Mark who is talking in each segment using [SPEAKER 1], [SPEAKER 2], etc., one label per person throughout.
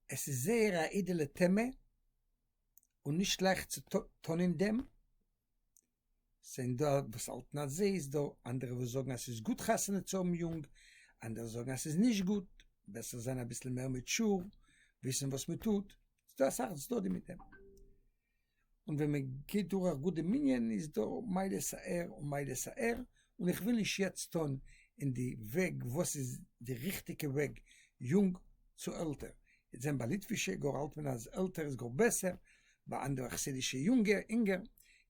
[SPEAKER 1] עס איז זייער א אידעלע טעמע און נישט שלעכט צו טון אין דעם, ס'זענען דא וואס האלטן אזוי, איז דא אנדערע וואס זאגן אז ס'איז גוט חתונה צו האבן יונג, אנדערע זאגן אז ס'איז נישט גוט, בעסער זיין אביסל מער מעטשור, וויסן וואס מ'טוט, ס'דא אסאך צדדים מיט דעם. און ווען מען גייט דורך גוט די מנין איז דא מעלות א ר און מעלות א ר, און איך וויל נישט יעצט טון אין די וועג וואס איז די ריכטיגע וועג יונג צו עלטער, יעצט זען ביי ליטווישע גאר האלט מען אז עלטער איז גאר בעסער, ביי אנדערע חסידישע אינגער,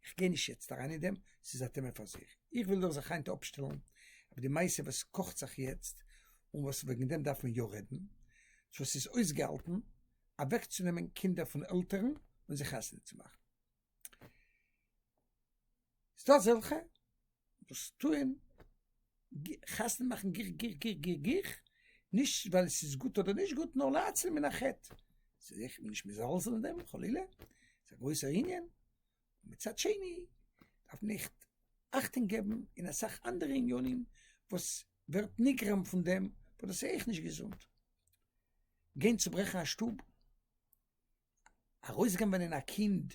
[SPEAKER 1] איך גיי נישט יעצט אריין אין דעם ס'איז א טעמע פאר זיך, איך וויל נאר זיך היינט אפשטעלן אויף די מעשה וואס קאכט זיך יעצט און וואס וועגן דעם דארף מען יא רעדן, צו עס איז אויסגעהאלטן. אוועקצונעמען קינדער פון עלטערן און זיך חתונה צו מאכן. איז דא אזעלכע וואס טוען חתונה מאכן גיך גיך גיך גיך גיך, נישט ווייל עס איז גוט אדער נישט גוט, נאר להציל מן החטא. זיי זענען זיך נישט מזלזל אין דעם חלילה, ס'איז א גרויסער ענין. מצד שני דארף מען עכט אכטונג געבן אין אסאך אנדערע עניינים וואס ווערט נגרם פון דעם, וואס דאס איז אויך נישט געזונט. גיין צוברעכן א שטוב, ארויסגנב'ענען א קינד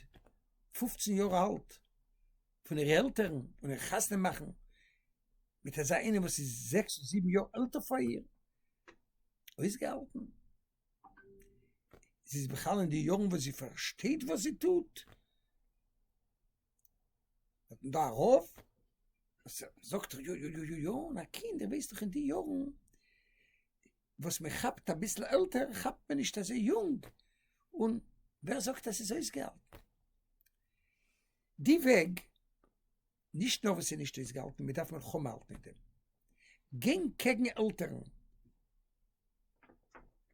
[SPEAKER 1] פופצן יאר אלט פון אירע עלטערן און איר חתונה מאכן מיט אזא איינעם וואס איז זעקס און זיבן יאר עלטער פאר איר, אויסגעהאלטן? זי איז בכלל אין די יארן וואס זי פארשטייט וואס זי טוט? האט מען דא א רב וואס זאגט יא יא יא יא יא, און א קינד ער ווייסט דאך אין די יארן וואס מען כאפט אביסל עלטער כאפט מען נישט אזוי יונג, און ווער זאגט אז ס'איז אויסגעהאלטן? די וועג, נישט נאר וואס ס'איז נישט אויסגעהאלטן, מען דארף מלחמה האלטן מיט דעם, גיין קעגן עלטערן,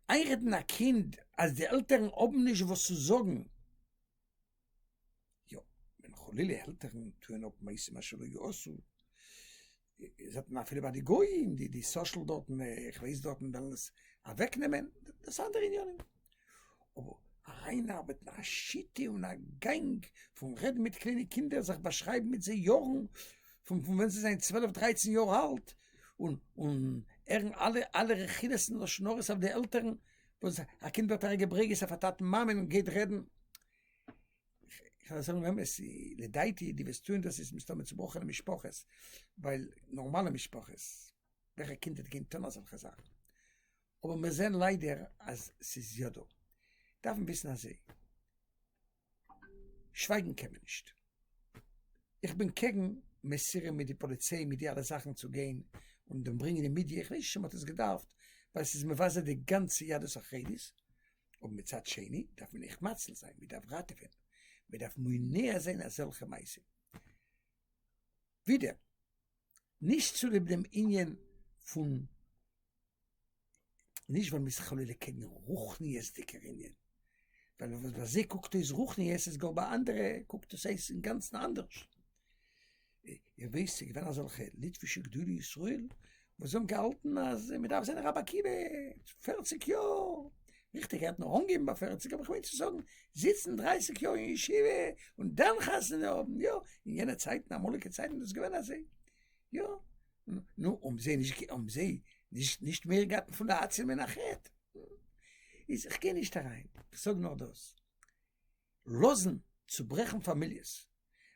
[SPEAKER 1] איינרעדן א קינד אז די עלטערן האבן נישט וואס צו זאגן, יא, ווען חלילה עלטערן טוען אפ מעשים אשר לא יעשו, זעט מען אפילו ביי די גויים, די די סאשעל דארטן, איך ווייס דארטן וועלן עס אוועקנעמען, דאס איז אנדערע עניינים, אבער אריינארבעטן א שיטה און א גאנג פון רעדן מיט קליינע קינדער, זיך באשרייבן מיט זיי יארן, פון פון ווען זיי זענען צוועלף דרייצן יאר אלט, און און הערן אלע אלע רכילות און לשון הרע'ס אויף די עלטערן, וואס א קינד ווערט ארעגעברעגעזט אויף א טאטן מאמען און גייט רעדן איך וועל זאגן אמת, לדעתי די וואס טוען דאס איז מסתמא צובראכענע משפחות, ווייל נארמאלע משפחות, וועלכע קינד וועט גיין טון אזעלכע זאכן? אבער מיר זעען ליידער אז ס'איז יא דא. דארף מען וויסן אזוי, שווייגן קען מען נישט. איך בין קעגן מסירה מיט די פאליציי מיט די אלע זאכן צו גיין און דעם ברענגען אין מידיע, איך ווייס נישט צו מ'האט עס געדארפט, ווייל ס'איז מבזה די גאנצע יהדות החרדית, אבער מצד שני דארף מען עכט מציל זיין, מען דארף ראטעווען, מען דארף מונע זיין אזעלכע מעשים. ווידער, נישט צוליב דעם ענין פון, נישט ווייל מען איז חלילה קעגן רוחניות'דיגער ענין, ווייל וואס ביי זיי קוקט אויס רוחניות איז גאר ביי אנדערע קוקט עס אויס אינגאנצן אנדערש. און ווער ס'איז געווען אזעלכע ליטווישע גדולי ישראל וואס האבן געהאלטן אז מ'דארף זיין א רבי עקיבא פערציג יאר, ריכטיג ער האט נאר אנגעהויבן ביי פערציג אבער כ'מיין צו זאגן זיצן דרייסיג יאר אין ישיבה און דאן חתונה האבן, יא, אין יענע צייטן אמאליגע צייטן איז דאס געווען אזוי, יא, נו, האבן זיי נישט גע האבן זיי נישט נישט מער געהאט פון די עצי מנחת? איז כ'גיי נישט אריין, כ'זאג נאר דאס. לאזן צוברעכן פאמיליעס,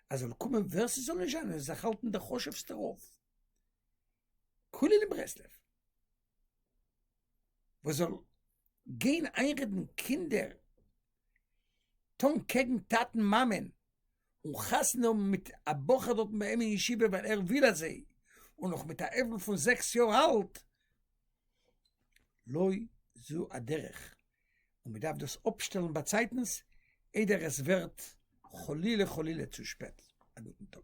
[SPEAKER 1] אז זאל קומען ווער ס'זאל נישט זיין און זיך האלטן דער חשוב'סטער רב, כולל אין ברסלב, וואס זאל גיין איינרעדן קינדער טון קעגן טאטן מאמען, און חתונה האבן מיט א בחור דארטן ביי אים אין ישיבה ווייל ער וויל אזוי, און נאך מיט א עוול פון זעקס יאר אלט, לא זו הדרך, און מען דארף דאס אפשטעלן באצייטנס איידער עס ווערט חלילה חלילה צו שפעט. א גוטן טאג.